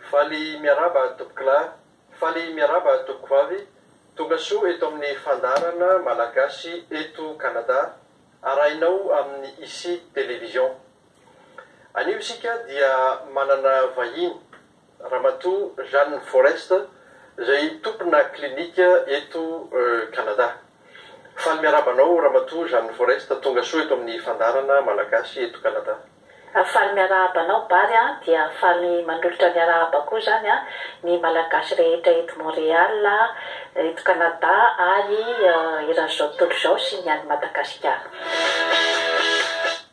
Faly miarahaba tompokolahy, faly miarahaba tompokovavy, tonga soa eto amin'ny fandaharana Malagasy eto Canada arahinao amin'ny Ici Télévision. Anio isika dia manana vahiny. Ramatoa Jeanne Forrest, izay tompona klinika eto Canada. Faly miarahaba anao Ramatoa Jeanne Forrest, tonga soa eto amin'ny Fandaharana Malagasy eto Canada. Faly miarahaba anao Bary a, dia faly manolotra ny arahaba koa izany a, ny Malagasy rehetra eto Montréal, eto Canada ary eran'izao tontolo izao sy ny any Madagasikara.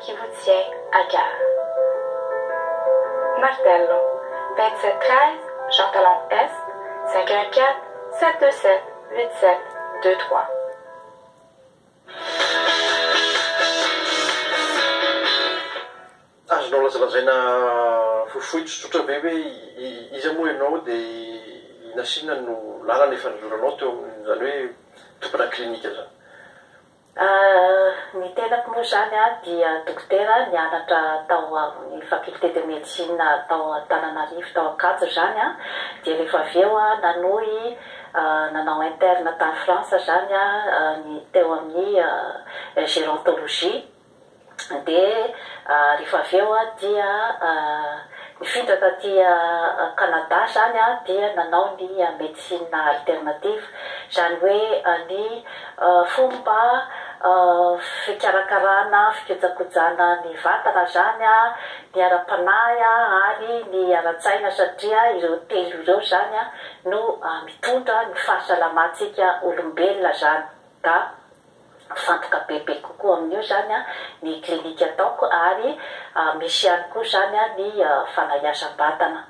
Kiboutze Agar. Martello, Betsy Kreis, Jean Talon Est, cinq un quatre, sept deux sept, huit sept, deux trois. Azonao lazalazaina fohifohy tsotsotra ve hoe iza moa ianao dia i Nasina no lalana efa nizoranao teo amin'izany hoe tompona clinique izany? Ny tenako moa izany dia dokotera nianatra tao amin'ny faculté de médecine tao Antananarivo tao Ankatso izany an, dia rehefa avy eo aho nanohy nanao interne tany France izany an, ny teo amin'ny gérontologie. Dia rehefa avy eo dia nifindra taty Canada izany dia nanao ny médecine alternative, izany hoe ny fomba fikarakarana, fikojakojana ny vatana izany, ny ara-panahy ary ny ara-tsaina satria ireo telo ireo izany no mitondra ny fahasalamantsika olombelona izany ka. Mifantoka bebe kokoa amin'io izany ny klinika ataoko ary misy ihany koa izany ny fanahiazam-batana.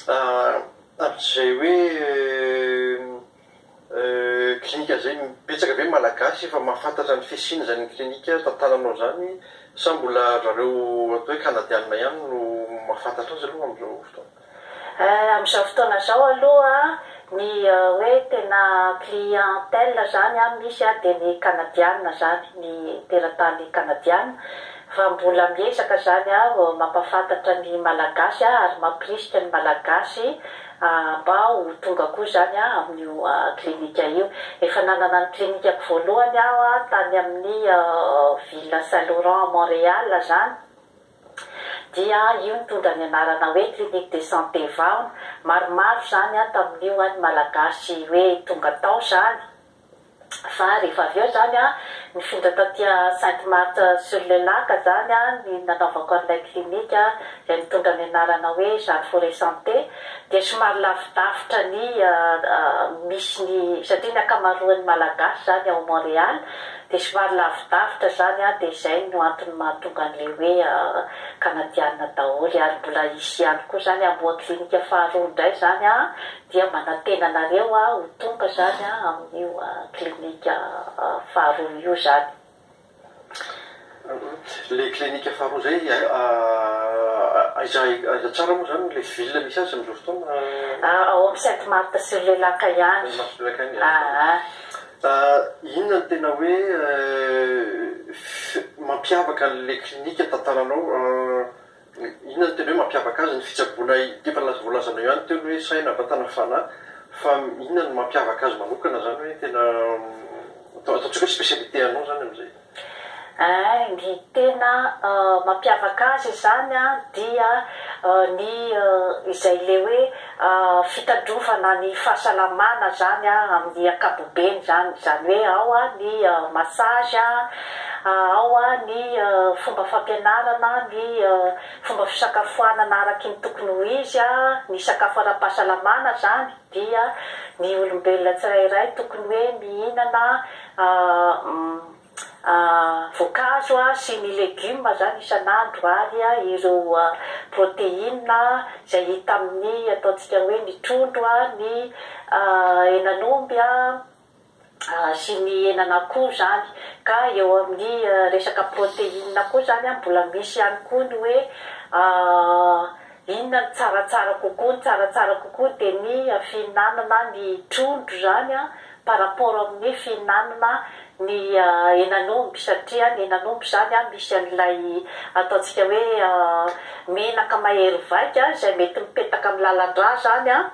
Amin'izay hoe klinika izay, betsaka ve ny Malagasy efa mahafantatra ny fisian'izany klinika tantananao izany sa mbola ry zareo atao hoe Kanadianina ihany no mahafantatra azy aloha amin'izao fotoana? Eh, amin'izao fotoana izao aloha ny hoe tena clientèle izany an, misy an, dia ny Kanadiana izany, ny teratany Kanadiana, fa mbola miezaka izany aho mampahafantatra ny Malagasy aho ary mampirisika ny Malagasy mba ho tonga koa izany amin'io clinique io. Efa nanana ny clinique-ko voalohany aho tany amin'ny Ville Saint Laurent Montréal izany, Dia io nitondra ny anarana hoe clinique de santé vahona maromaro zany an tamin'io an ny malagasy hoe tonga tao zany fa rehefa avy eo zany an nifindra taty an sainte Marthe sur le lac zany an ny nanaovako an'ilay clinique an izay nitondra ny anarana hoe jeanne forêt santé dia somary lavidavitra ny misy ny satria ny ankamaroan'ny malagasy zany ao Montréal Dia somary lavidavitra zany an, dia zay no antony mahatonga an'le hoe Kanadianina daholo, ary mbola hisy ihany koa zany hamoha clinique faharoa indray zany an, dia manantena anareo aho ho tonga zany an amin'io clinique faharoa io zany. Ilay clinique faharoa izay aiza aiza tsara moa izany ilay ville misy azy amin'izao fotoana? Ao amin'ny Sainte Marthe sur le lac ihany. Sainte Marthe sur le lac ihany. Aa. Inona no tena hoe mampiavaka an'ilay clinique tantananao? Inona no tena hoe mampiavaka azy? Ny fitsaboana ity efa voalazanao ihany teo ny hoe saina, vatana, fanahy, fa inona no mampiavaka azy manokana izany hoe tena ataontsika hoe spécialité anao izany amin'izay? Ee, ny tena mampiavaka azy izany dia ny izay ilay hoe. fitandrovana ny fahasalamana zany amin'ny ankapobeny zany, zany hoe ao ny massage, ao ny fomba fampianarana, ny fomba fisakafoanana araky ny tokony ho izy, ny sakafo ara-pahasalamana zany dia ny olombelona tsirairay tokony hoe mihinana voankazo sy ny legioma izany isan'andro ary ireo protéine izay hita amin'ny ataontsika hoe ny trondro, ny henan'omby sy ny henan'akoho izany. Ka eo amin'ny resaka protéine koa izany mbola misy ihany koa ny hoe Inona no tsaratsara kokoa? Ny tsaratsara kokoa dia ny fihinanana ny trondro izany an, par rapport amin'ny fihinanana ny henan'omby, satria ny henan'omby izany an misy an'ilay ataontsika hoe menaka mahery vaika izay mety mipetaka amin'ny lalan-drà izany an,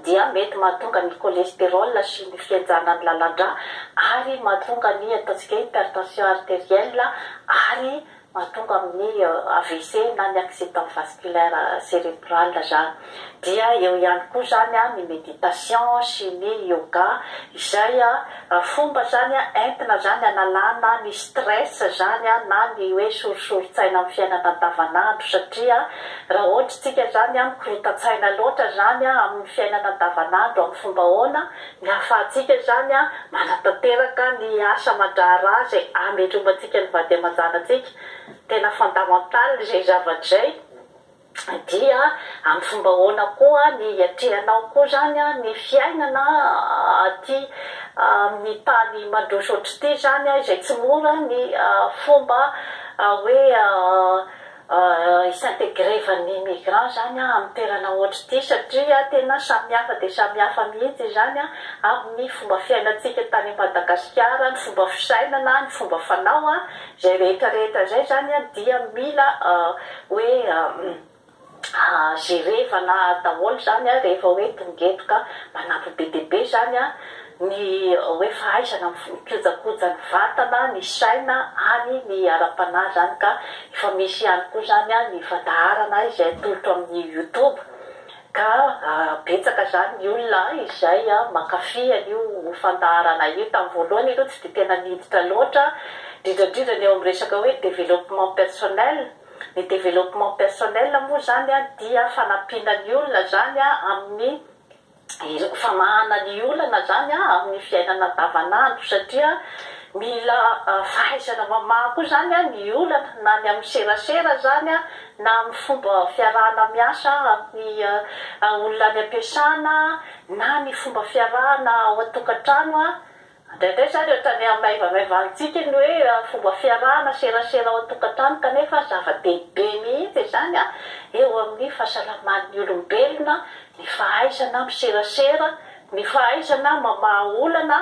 dia mety mahatonga ny cholestérol sy ny fihenjana ny lalan-drà ary mahatonga ny ataontsika hoe hypertension artérielle ary mahatonga amin'ny AVC na ny accident vasculaire cérébral izany. Dia eo ihany koa izany ny méditation sy ny yoga izay Fomba zany an entina zany analana ny stress zany an na ny hoe sorisoritsaina amin'ny fiainana andavanandro satria raha ohatra isika zany an mikorontatsaina loatra zany an amin'ny fiainana andavanandro amin'ny fomba ahoana ny ahafahantsika zany an manatanteraka ny asa aman-draharaha izay ametromantsika ny vady aman-janatsika tena fondamental izay zavatra izay Dia amin'ny fomba ahoana koa ny hiatrehanao koa izany ny fiainana aty amin'ny tany mandroso ohatr'ity izany, izay tsy mora ny fomba hoe hi-s'intégrer-van'ny migrant izany amin'ny toerana ohatr'ity satria tena samihafa dia samihafa mihitsy izany amin'ny fomba fiainantsika tany Madagasikara, ny fomba fisainana, ny fomba fanao, Izay rehetra rehetra izay izany an dia mila hoe jerevana daholo izany an rehefa hoe tongedoka manampy be dia be izany an ny hoe fahaizana mikojakoja ny vatana, ny saina ary ny ara-panahy izany ka efa misy ihany koa izany an ny fandaharana izay atolotro amin'ny youtube Ka betsaka zany ny olona izay mankafy an'io fandaharana io. Tamin'ny voalohany aloha tsy dia tena niditra loatra, indrindra indrindra ny eo amin'ny resaka hoe développement personnel. Ny développement personnel moa zany dia fanampiana ny olona zany amin'ny famahana ny olana zany amin'ny fiainana andavan'andro satria mila fahaizana mamaha koa zany ny olana na ny amin'ny serasera zany na amin'ny fomba fiarahana miasa amin'ny olona any am-piasana, na ny fomba fiarahana ao an-tokantrano. Indraindray izany ohatran'ny hamaivamaivantsika ny hoe fomba fiarahana serasera ao an-tokantrano, kanefa zava-dehibe mihitsy izany eo amin'ny fahasalaman'ny olombelona, ny fahaizana miserasera, ny fahaizana mamaha olana.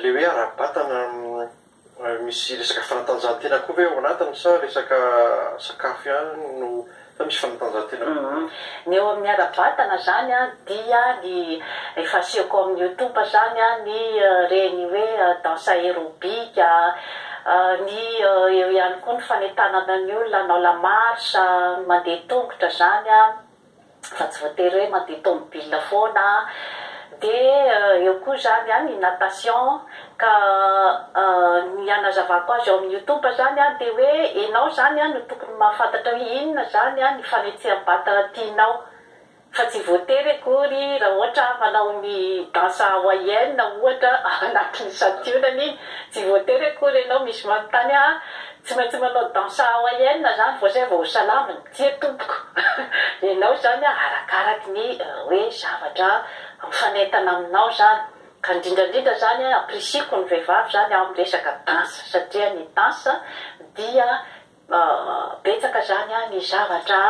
Ilay hoe ara-batana misy resaka fanatanjahantena koa ve ao anatiny sa resaka sakafo ihany no, sa misy fanatanjahantena koa? Ny eo amin'ny ara-batana izany dia ny efa asehoko ao amin'ny youtube izany ny ireny hoe danse aerobic, ny eo ihany koa ny fanentanana ny olona hanao la marche, ny mandeha tongotra izany. fa tsy voatery hoe mandeha tomobil foana an, dia eo koa izany an ny natation, ka ny hanazavako azy ao amin'ny youtube izany an dia hoe ianao izany an no tokony mahafantatra hoe inona izany an ny fanetseham-batana tianao, fa tsy voatery akory raha ohatra aho manao ny danse hawaïenne ohatra ao anatin'ny santionany iny, tsy voatery akory ianao misy manontany ahy tsy maintsy manao danse hawaïenne izany vao izay vao ho salamina. Tsia tompoko, ianao izany arakaraky ny hoe zavatra mifanentana aminao izany, ka indrindra indrindra izany apprecieko ny vehivavy izany amin'ny resaka danse satria ny danse dia betsaka izany ny zavatra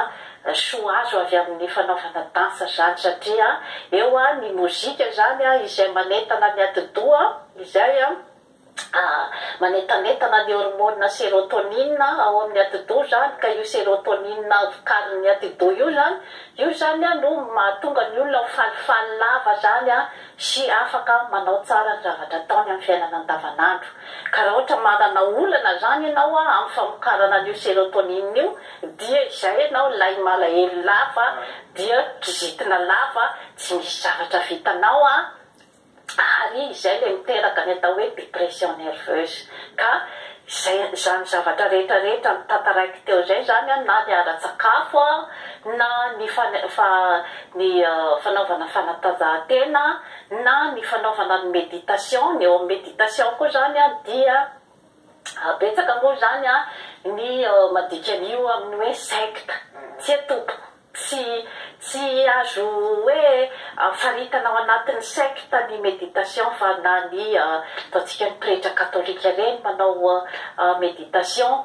soa azo avy amin'ny fanaovana danse izany satria eo ny mozika izany izay manentana ny atidoha izay A, Manetanetana ny hormonina serotonina ao amin'ny atidoha izany, ka io serotonina vokarin'ny atidoha io izany, io izany no mahatonga ny olona ho falifaly lava izany sy afaka manao tsara ny zavatra ataony amin'ny fiainana andavanandro. Ka raha ohatra manana olana izany ianao amin'ny famokarana an'io serotonina io, dia izay ianao, ilay malahelo lava dia kizitina lava, tsy misy zavatra vitanao ary izay ilay miteraka ny atao hoe dépression nerveuse ka izay izany zavatra rehetra rehetra notantaraiko teo izay izany na ny ara-tsakafo na ny fa ny fanaovana fanatanjahantena na ny fanaovana ny méditation ny eo amin'ny méditation koa izany dia betsaka moa izany ny mandika an'io amin'ny hoe secte tsia tompoko Tsy tsy azo hoe faritana ao anatin'ny secte ny méditation fa na ny ataontsika ny pretra katolika ireny manao méditation.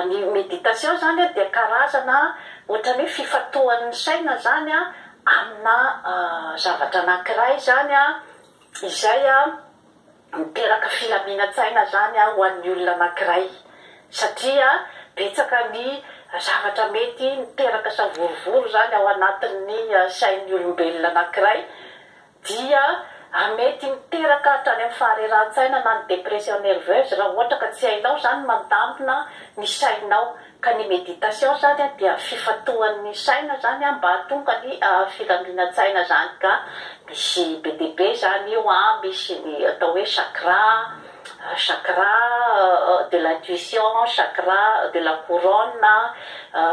Ny méditation izany dia karazana ohatran'ny hoe fifantohan'ny saina izany amina zavatra anankiray izany izay Miteraka filaminan-tsaina izany ho an'ny olona anankiray satria betsaka ny zavatra mety miteraka savorovoro izany ao anatin'ny sain'ny olombelona anankiray dia mety miteraka hatrany amin'ny faharerahan-tsaina na ny dépression nerveuse raha ohatra ka tsy hainao izany mandamina ny sainao Ka ny méditation zany dia fifantohan'ny saina zany mba hahatonga ny filaminantsaina zany ka misy be dia be zany io an, misy ny atao hoe chakra, chakra de l'intuition, chakra de la couronne,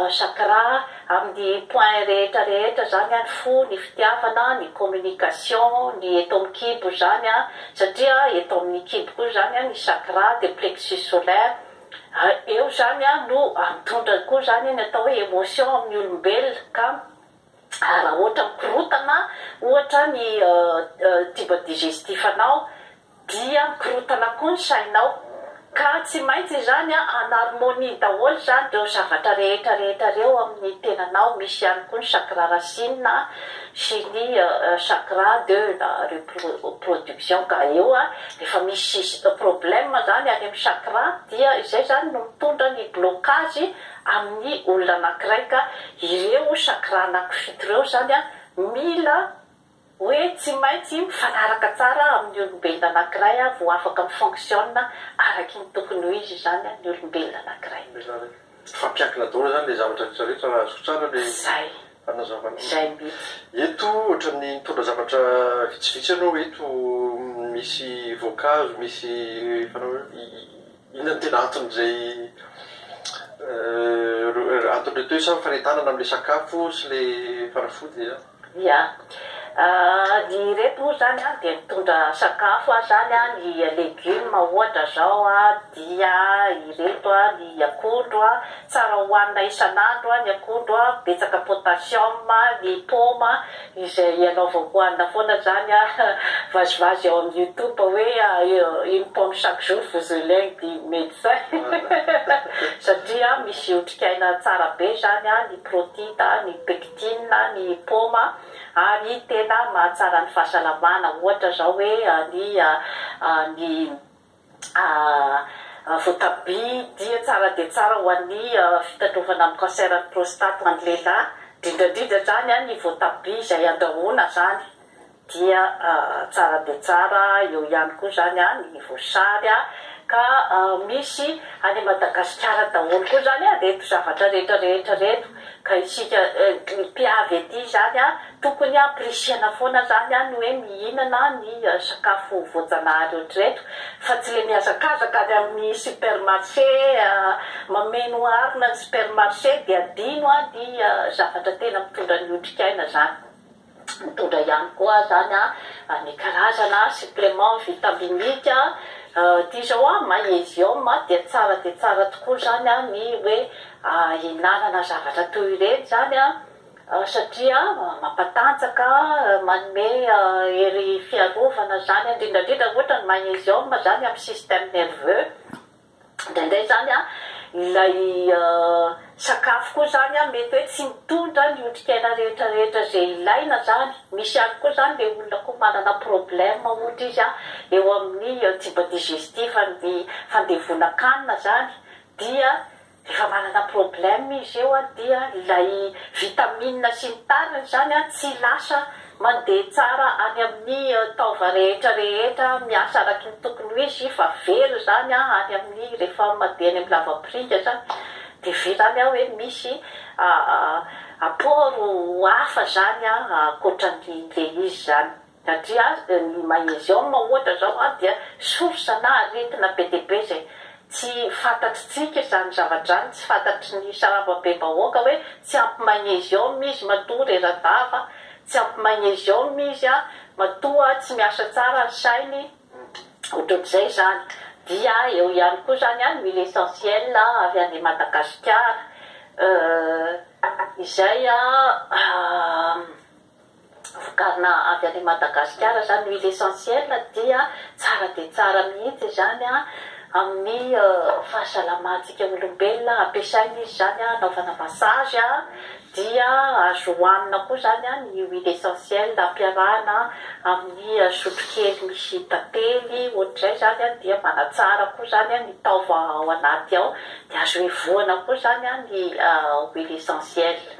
chakra amin'ny point rehetra rehetra zany an, ny fo, ny fitiavana, ny communication, ny eto amin'ny kibo zany an, satria eto amin'ny kibo koa zany an ny chakra dia plexus solaire, Eo izany an no mitondra koa izany ny atao hoe emotion amin'ny olombelona ka raha ohatra mikorotana ohatra ny tube digestif anao dia mikorotana koa ny sainao ka tsy maintsy izany an en harmonie daholo izany ireo zavatra rehetra rehetra ireo amin'ny tenanao, misy ihany koa ny chakra racine an. Chimie, un chakra, deux la reproduction ka eo an, rehefa misy problème zany any amin'ny chakra dia izay zany no mitondra ny blocage amin'ny olona anankiray ka ireo chakra anaky fito ireo zany an mila hoe tsy maintsy mifanaraka tsara amin'ny olombelona anankiray an vao afaka mi-fonctionne araky ny tokony ho izy zany an ny olombelona anankiray. Hifampiankina daholo izany ilay zavatra rehetra rehetra raha azoko tsara ilay fanazavana. Izay mihitsy. Eto ohatran'ny nitondra zavatra vitsivitsy ianao eto, misy voankazo, misy fanao hoe inona no tena anton'izay anton'ireto hoe sa fanetanana amin'ilay sakafo sy ilay fanafody? Ia. Ny ireto moa izany an, dia mitondra sakafo an, izany an, ny legioma ohatra izao an, dia ireto an, ny akondro an, tsara hohanina isan'andro ny akondro an, betsaka potassium, ny paoma izay anaovako hohanina foana izany an, vazivazy ao amin'ny youtube hoe une pomme chaque jour vous elègue dit médecin satria misy otrikaina tsara be izany an, ny protides, ny pectines. Inona ny paoma ary tena mahatsara ny fahasalamana? Ohatra zao hoe ny ny voatabia dia tsara dia tsara ho an'ny fitandrovana amin'ny cancer ny prostate ho an'ny lehilahy, indrindra indrindra zany ny voatabia izay andrahoana zany. dia tsara dia tsara eo ihany koa zany an ny voasary an ka misy any Madagasikara daholo koa zany an reto zavatra rehetra rehetra reto ka isika mpiavy ety zany an tokony hampirisihana foana zany an ny hoe mihinana ny sakafo voajanahary ohatreto fa tsy le mihazakazaka any amin'ny supermarché mameno harona ny supermarché dia adino an ny zavatra tena mitondra ny otrikaina zany. Mitondra ihany koa zany ny karazana supplément vitaminique ty zao magnésium dia tsara dia tsara tokoa zany ny hoe ihinanana zavatra toy ireny zany satria mampatanjaka manome hery fiarovana zany indrindra indrindra ohatra ny magnésium zany amin'ny système nerveux. Indraindray izany ilay sakafo koa izany mety hoe tsy mitondra ny otrikaina rehetra rehetra izay ilaina izany. Misy ihany koa izany ilay olona koa manana problème ohatra izy eo amin'ny tube digestif ny fandevonan-kanina izany dia rehefa manana problème izy eo dia ilay vitamine sy ny tariny izany tsy lasa Mandeha tsara any amin'ny taova rehetra rehetra, miasa araky ny tokony ho izy fa very izany any amin'ny rehefa mandeha any amin'ny lavapiringa izany dia very any hoe misy apport hafa izany ankoatra an'ilay izy izany satria ny magnesium ohatra izao dia source na aretina be dia be izay Tsy fantatritsika izany zavatra izany, tsy fantatry ny sarambabem-bahoaka hoe tsy ampy magnésium izy matoa rera-dava, tsy ampy magnésium izy matoa tsy miasa tsara ny sainy, ohatrohatr'izay izany. Dia eo ihany koa izany an, huile essentielle avy any Madagasikara, izay an. vokarina avy any Madagasikara izany huile essentielle dia tsara dia tsara mihitsy izany amin'ny fahasalamantsika olombelona, ampiasaina izy izany hanaovana massage, dia azo hohanina koa izany ny huile essentielle ampiarahana amin'ny sotrokely misy tantely ohatr'izay izany dia manatsara koa izany ny taova ao anaty ao, dia azo hevohana koa izany ny huile essentielle.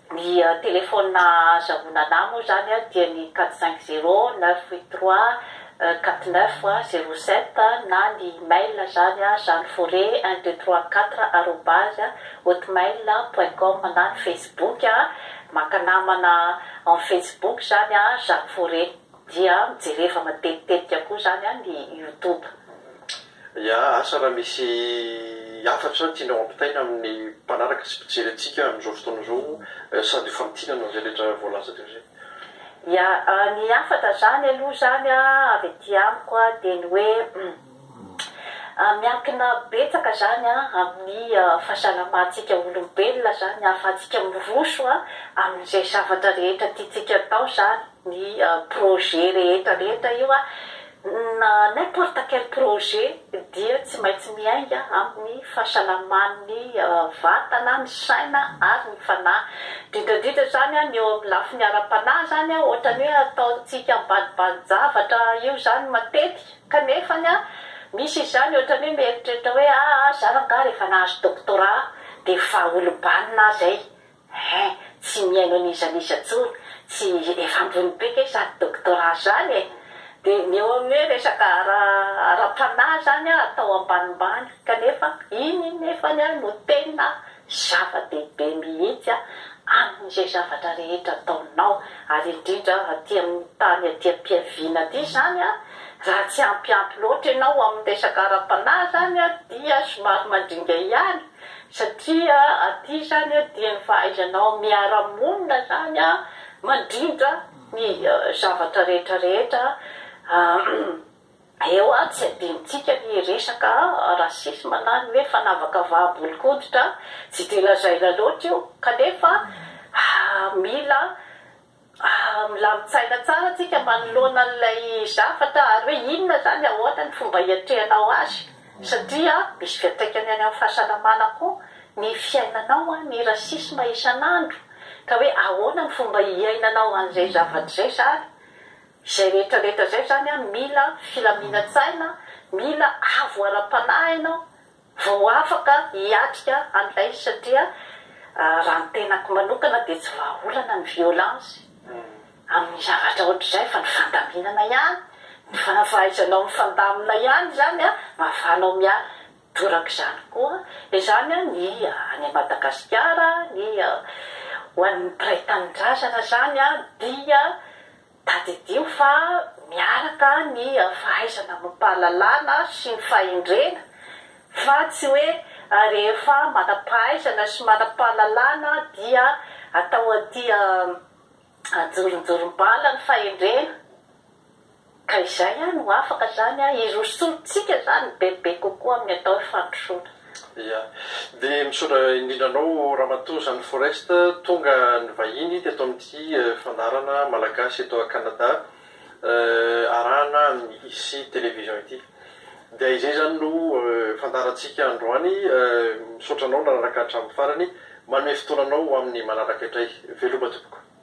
Ny telefaonina ahazahoana anah moa izany dia ny quatre cinq zero neuf huit trois quatre neuf zero sept na ny mail izany janoforet un deux trois quatre arobase hotmail point com na ny facebook maka namana en facebook izany janoforet dia mijereva matetitetika koa izany ny youtube. Ya, asa raha misy hafatra tianao ampitaina amin'ny mpanaraka sy mpijery antsika amin'izao fotoana izao sady ho famintinana izay rehetra voalaza teo izay. Ya, ny hafatra izany aloha izany avy aty amiko dia ny hoe miankina betsaka izany amin'ny fahasalamantsika olombelona izany ahafahantsika miroso amin'izay zavatra rehetra tiantsika atao izany. ny projet rehetra rehetra io na n'importe quel projet dia tsy maintsy miainga amin'ny fahasalaman'ny vatana, ny saina ary ny fanahy. Indrindra indrindra izany ny eo amin'ny lafiny ara-panahy izany ohatran'ny hoe ataontsika ambanibanin-javatra io izany matetika kanefa misy izany ohatran'ny hoe mieritreritra hoe aa zah angaha rehefa nahazo doctorat dia efa olom-banona aho izay, He, tsy mihaino an'iza n'iza tsony, tsy efa ambony be ve zany doctorat zany e! Dia ny eo amin'ny hoe resaka ara ara-panahy zany an atao ambanimbany kanefa iny nefany an no tena zava-dehibe mihitsy an amin'izay zavatra rehetra ataonao ary indrindra aty amin'ny tany aty am-piaviana aty zany an raha tsy ampy ampy loatra ianao amin'ny resaka ara-panahy zany an dia somary mandringa ihany Satria aty izany an dia ny fahaizanao miara-monina izany an mandrindra ny zavatra rehetra rehetra eo an, tsy adinontsika ny resaka racisme na ny hoe fanavakavaham-bolon-koditra an, tsy dia lazaina loatra io kanefa mila Raha milamin-tsaina tsara isika manoloana an'ilay zavatra ary hoe inona izany, ahoana ny fomba hiatrehanao azy satria misy fiantraikany any amin'ny fahasalamana koa ny fiainanao ny racisme isan'andro ka hoe ahoana ny fomba hiainanao an'izay zavatra izay izany. Izay rehetra rehetra izay izany mila filaminan-tsaina, mila avo ara-panahy ianao vao afaka hiatrika an'ilay satria raha ny tenako manokana dia tsy vahaolana ny violence amin'ny zavatra ohatr'izay fa ny fandaminana ihany, ny fahaizanao mifandamina ihany izany an, mahafahanao miala toraka izany koa izany an, ny any Madagasikara, ny ho an'ny mpiray tanindrazana izany dia Tadidio fa miaraka ny fahaizana amim-pahalalana sy ny fahendrena, fa tsy hoe rehefa manam-pahaizana sy manam-pahalalana dia atao aty an-joronjorom-bala ny fahendrena, ka izay no afaka izany hirosoantsika izany bebe kokoa amin'ny atao hoe fandrosoana. Ia. Dia misaotra indrindra anao Ramatoa Jeanne Forest tonga nivahiny teto amin'ity fandaharana Malagasy eto à Canada arahana amin'ny ici télévision ity. Dia izay izany no fandaharantsika androany. Misaotra anao nanaraka hatramin'ny farany. Manome fotoana anao ho amin'ny manaraka indray. Veloma tompoko.